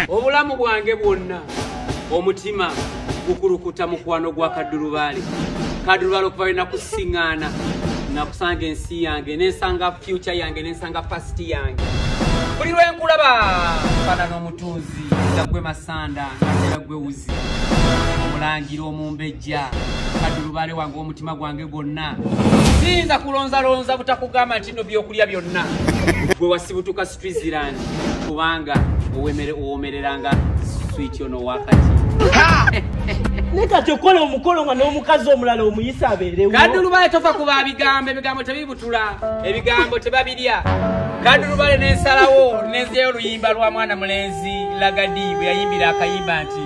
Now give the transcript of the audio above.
obulamu bwange bwonna omutima gukulukuta mukwano gwa kaddulubaale kaddulubaale okuva lwena kusiŋaana nakusanga ensi yange nensanga fyuca yange nensanga pasiti yange buli lwenkulaba fana n'omutunzi zagwe masanda atera gwe wuzi omulangira omumbejja kaddulubaale wange omutima gwange gwonna siyinza kulonzalonza butakugamba nti no byokulya byonna gwe wasibutuka Switzerland kubanga owemere owomereranga switch ono wakati ne kati okola omukolo nga n'omukazi omulala omuyisa abeerewo kadulubale tofa ku babigambo ebigambo tebibutula ebigambo tebabirya kadulubale n'ensalawo nenzeyo oluyimba lwa mwana mulenzi lagadi bwe yayimbira akayimba nti